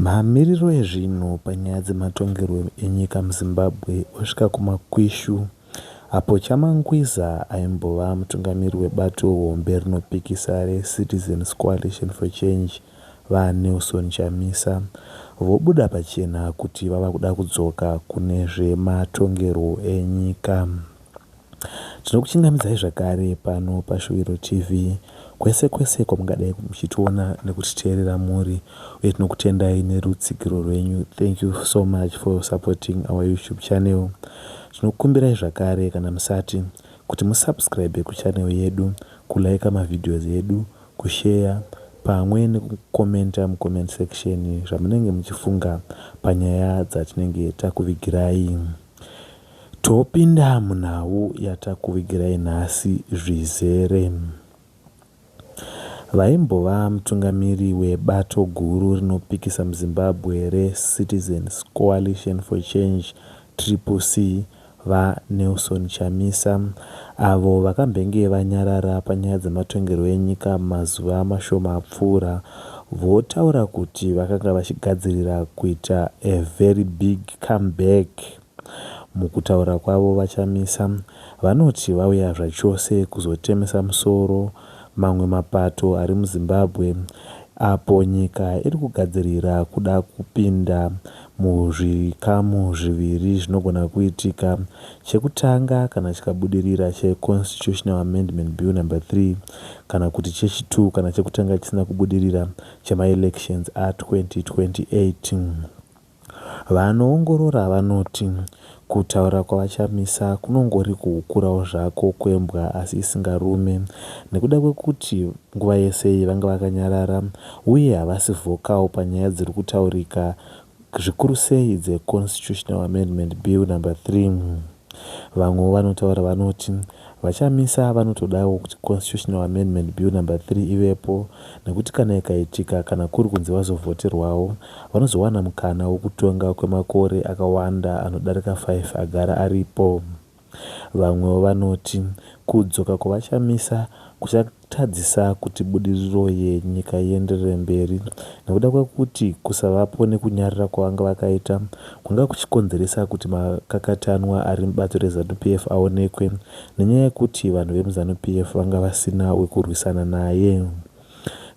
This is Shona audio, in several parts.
Mamiriro ezvinhu panyaya dzematongerwo enyika muZimbabwe osvika kumakwishu apo Chamangwiza aimbova mutungamiri webato hombe rinopikisa reCitizens Coalition for Change, VaNelson Chamisa, vobuda pachena kuti vava kuda kudzoka kune zvematongerwo enyika. Tinokuchingamidzai zvakare pano paShuwiro TV kwese kwese kwamungadai muchitiona nekutiteerera muri uye tinokutendai nerutsigiro rwenyu thank you so much for supporting our YouTube channel tinokukumbirai zvakare kana musati kuti musubscribe kuchannel yedu kulaika mavideos edu kusheya pamwe nekukomenta mucomment section zvamunenge muchifunga panyaya dzatinenge takuvigirai Topinda munhau yatakuvigirai nhasi zvizere. Vaimbova mutungamiri webato guru rinopikisa muZimbabwe reCitizens Coalition for Change, Triple C, VaNelson Chamisa, avo vakambenge vanyarara panyaya dzematongerwo enyika mazuva mashoma apfuura, votaura kuti vakanga vachigadzirira kuita a very big comeback. Mukutaura kwavo VaChamisa vanoti vauya zvachose kuzotemesa musoro mamwe mapato ari muZimbabwe apo nyika iri kugadzirira kuda kupinda muzvikamu zviviri zvinogona kuitika. Chekutanga, kana chikabudirira, cheConstitutional Amendment Bill Number 3, kana kuti chechi two, kana chekutanga chisina kubudirira, chemaElections a 2028. Vanoongorora vanoti Kutaura kwaVaChamisa kunongori kuhukurawo zvako kwembwa asi isingarume nekuda kwekuti nguva yese iyi vanga vakanyarara uye havasi vocal panyaya dziri kutaurika zvikuru sei dzeConstitutional Amendment Bill Number Three. Vamwewo vanotaura vanoti VaChamisa vanotodawo kuti Constitutional Amendment Bill number 3 ivepo nekuti kana ikaitika kana kuri kunzi vazovhoterwawo, vanozowana mukana wekutonga kwemakore akawanda anodarika 5 agara aripo. Vamwewo vanoti kudzoka kwaVaChamisa kuchakasika. tadzisa kuti budiriro yenyika ienderere mberi nekuda kwekuti kusavapo nekunyarara kwavanga vakaita kwanga kuchikonzeresa kuti makakatanwa ari mubato reZanu-PF aonekwe nenyaya yekuti vanhu vemuZanu-PF vanga vasina wekurwisana naye.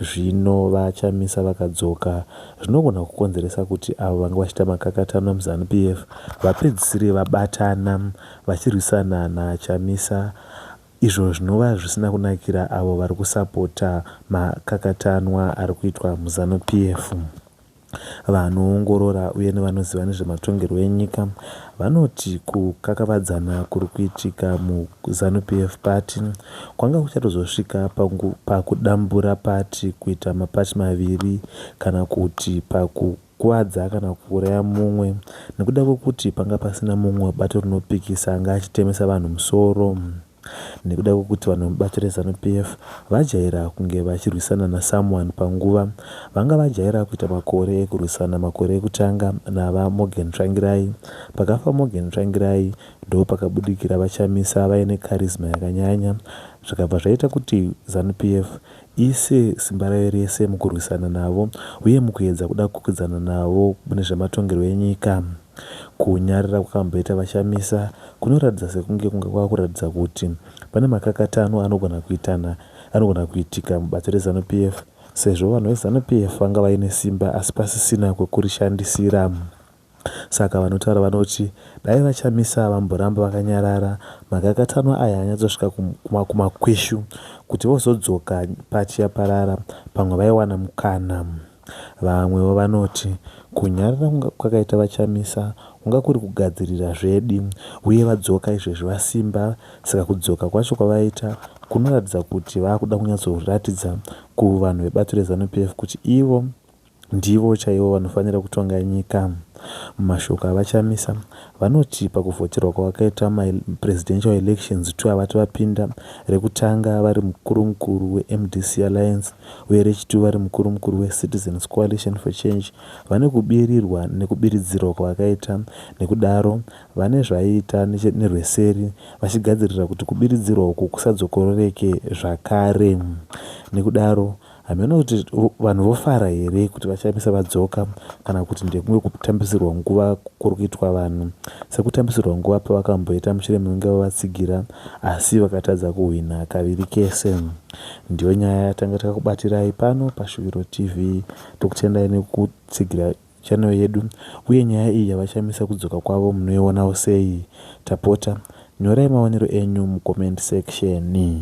Zvino VaChamisa vakadzoka zvinogona kukonzeresa kuti avo vanga vachiita makakatanwa muZanu-PF vapedzisire vabatana vachirwisana naChamisa izvo zvinova zvisina kunakira avo vari kusapota makakatanwa ari kuitwa muZanu PF. Vanoongorora uye nevanoziva nezvematongerwo enyika vanoti kukakavadzana kuri kuitika muZanu PF pati kwanga kuchatozosvika pakudambura pati kuita mapati maviri kana kuti paku kukuvadza kana kuuraya mumwe nekuda kwekuti panga pasina mumwe bato rinopikisa anga achitemesa vanhu musoro nekuda kwekuti vanhu vemubato reZanu PF vajaira kunge vachirwisana nasomeone panguva vanga vajaira kuita makore ekurwisana makore ekutanga naVa Morgan Tsvangirai. Pakafa Morgan Tsvangirai ndopakabudikira VaChamisa vaine charisma yakanyanya zvikabva zvaita kuti Zanu PF Ise simba rayo rese mukurwisana navo uye mukuedza kuda kukwikwidzana navo mune zvematongerwo enyika. Kunyarara kwakamboita VaChamisa kunoratidza sekunge kunge kwava kuratidza kuti pane makakatanwa anogona kuitana anogona kuitika mubato reZanu PF sezvo vanhu veZanu PF vanga vaine simba asi pasisina kwekurishandisira. Saka vanotaura vanoti dai VaChamisa vamboramba vakanyarara makakatanwa aya anyatsosvika kumakweshu kuti vozodzoka paty yaparara pamwe vaiwana mukana. Vamwewo vanoti kunyarara kunga kwakaita VaChamisa kunga kuri kugadzirira zvedi uye vadzoka izvezvi vasimba saka kudzoka kwacho kwavaita kunoratidza kuti vakuda kunyatsoratidza kuvanhu vebato reZanu PF kuti ivo Ndivo chaivo vanofanira kutonga nyika. Mumashoko aVaChamisa, vanoti pakuvhoterwa kwakaitwa maPresidential Elections two avati vapinda, rekutanga vari mukuru mukuru weMDC Alliance uye rechitvu vari mukuru mukuru weCitizens Coalition for Change, vane kubirirwa nekubiridzirwa kwavakaita nekudaro vane zvaiita nerweseri vachigadzirira kuti kubiridzirwa uku kusadzokororeke zvakare nekudaro Hameno kuti vanhu vofara here kuti VaChamisa vadzoka kana kuti ndekumwe kutambisirwa nguva kuri kuitwa vanhu sekutambisirwa nguva pavakamboita Muchiremunenge vavatsigira asi vakatadza kuhwina kaviri kese. Ndiyo nyaya yatanga takakubatirai pano paShuviro TV. Tokutendai nekutsigira channel yedu uye nyaya iyi yaVaChamisa kudzoka kwavo munoionawo sei? Tapota nyorai maonero enyu mucomment section.